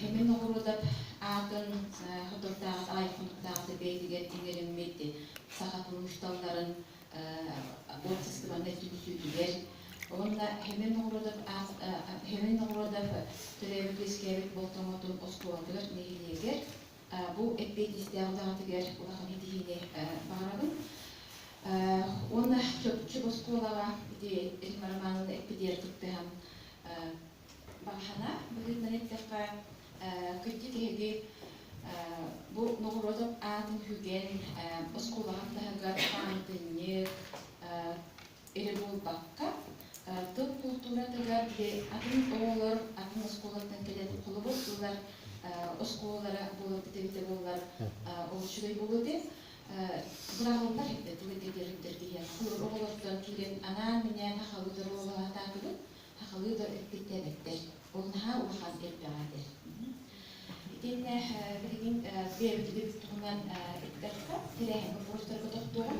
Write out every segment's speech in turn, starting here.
Химин оҕуруотап аатын хотурдааҕыт аҕай хонуктааҕыта бэйэтигэр иҥэриммит саха куруусталларын уопсастыбаннай түмсүүтүгэр уонна Химин оҕуруотап Химин оҕуруотап төрөөбүт-үөскээбит болтоҥотун оскуолатыгар нэһилиэгэр бу эппиэтинстээх үлэҕитигэр улахан ситиһиини баҕарабын. Уонна чопчу оскуолаҕа ити Римма Романовна эппитигэр кыттыһан Баһана быһыытынан эттэххэ, кырдьык эһиги бу ноҕуруотап аатын сүгэн оскуолаҕын таһыгар паантынньык эрэ буолбакка, тыл култууратыгар били атын оҕолор атын оскуолаттан кэлэн холобур ылар оскуолалара буолан эбитэ буоллар ол үчүгэй буолуо этэ. Быраҕыллар эрдэ тылы кэтэрдэр диэн холобур оҕолортон киирэн анаан-минээн ахабыт оруолу атаатыбыт. сахалыы да эппиттээбэттэр. Ол наһаа улахан элбэҕэ этэ. Итиннэ билигин бэйэбитигит туһунан эттэххэ, тэрээһиҥҥэ буолустарга тохтуоҕум.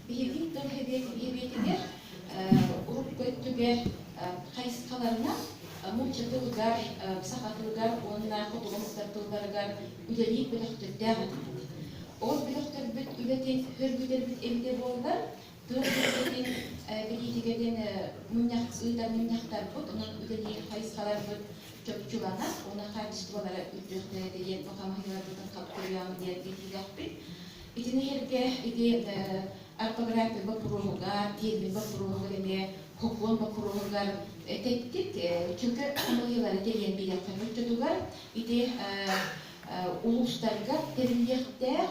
Биһиги тыл сэбиэтигэр урут өттүгэр хайысхаларынан нуучча тылыгар, саха тылыгар уонна хотугу сытар тылларыгар үлэлиир бөлөхтөрдөөх этибит. Ол бөлөхтөрбүт үлэтин сөргүтэрбит эбитэ буоллар, Тыа сирин бэлиитигэ диэн мунньах ыытар мунньахтарбыт, онон үтэни хайысхаларбыт чопчуланар, уонна хаачыстыбалара үрдүөхтэрэ диэн хамаһыыларбытын хапкырыам диэн этиилэхпит. Итини сэргэ ити орфография боппуруоһугар, тиэрмин боппуруоһугар эмиэ хокуон боппуруоһугар этэттик, чөкө хамаһыылары тэрийэн биэриэххэ оччотугар ити улуустарга тэриллиэхтээх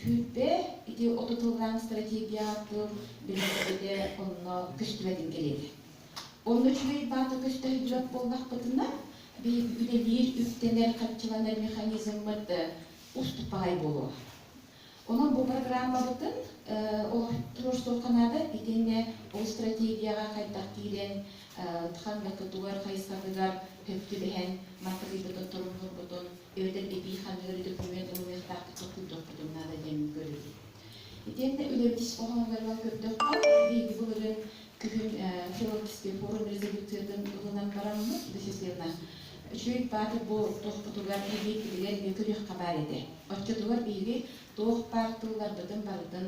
Сүүрбэ ити оту тыллаан стратегия тыл билэрбитэ онно көстүбэтин кэлиэтэ. Онно үчүгэй баата көстөһүбүрөк буоллахпытына, биһиги үлэлиир, үктэнэр, хаччыланар механизммыт устук баҕай буолуо. Онон бу программабытын олохтуур суохха наада итиэннэ ол стратегияҕа хайдах киирэн, ханныкытыгар, хайсаргытыгар сөптүү бэһэн, маркатыйбытын, торумнуурбутун эбэтэр эбии ханыгар документ ылымыахтаахтыкка күүтүөхпүтүн наада диэн көрүбүт. Итиэннэ үлэбитис хоһооноругар көрдөххө, биһиги былырыын күһүн Филолкистия форум резолюциятын ылынан бараммыт, бэсисиэна үчүгэй баатыр буолуохпутугар эбии билигэр көрүөххэ баар этэ. Оччотугар биһиги туох баар тылларбытын барытын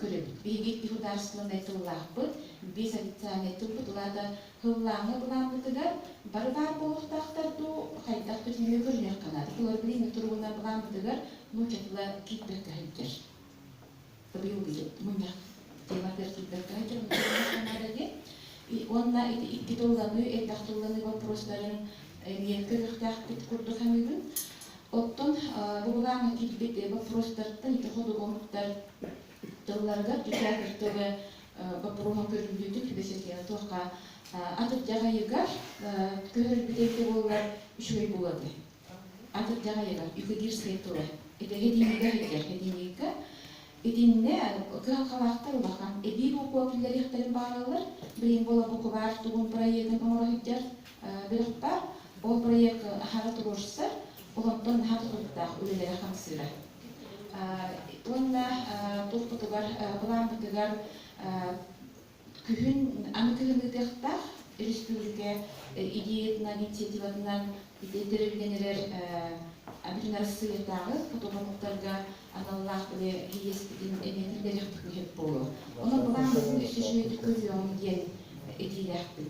көрөбүт. Биһиги государственнай тыллаахпыт, биэс официальнай тылбыт улаата тыллааҥҥа былааммытыгар бары баар буолуохтаахтар дуу, хайдах көтүрүү көрүһүөххэ наада. Былыргы инник туругунан былааммытыгар нууччатыла киирбэккэ сылдьар. Быйылгы мунньах тыаларгар киирбэккэ сылдьыахха наада диэн. Уонна ити икки тылланыы, элбэх тылланыы боппуруостарын эмиэ көрүөхтээхпит курдук саныыбын. Оттон быһылааҥҥа киирбит боппуруостартан ити ходуһуһуктар тылларыгар театр тылы боппуруоһун көрүллүүтүк бэчэтийэн туохха атырдьах ыйыгар көһөрүлбүтэ ити буоллар үчүгэй буолуота. Атырдьах ыйыгар юкидирскай тылы это единика сылдьар единика итиннэ кыһалҕалаахтар улахан эбии букула киллэриэхтэрин баараллар билин буола букубаар тугун проектын оҥоро сылдьар Бөлөхпө ол проект хара туруорсар, олонтон наһаа тутулуктаах үлэлэри хамсыыра. Уонна туппутугар, былааммытыгар күһүн аны күһүн ыытыахтаах республика идеятынан, инициативатынан тэрилинэн эрэр Адрин Арассыыйатааҕы фотоомуннуктарга аналлаах били иэспитин эниэтин бэлэхтик иһит буолуо. Ону былааммытын үстүчүөтүк көрүөҕүҥ диэн этиилээхпин.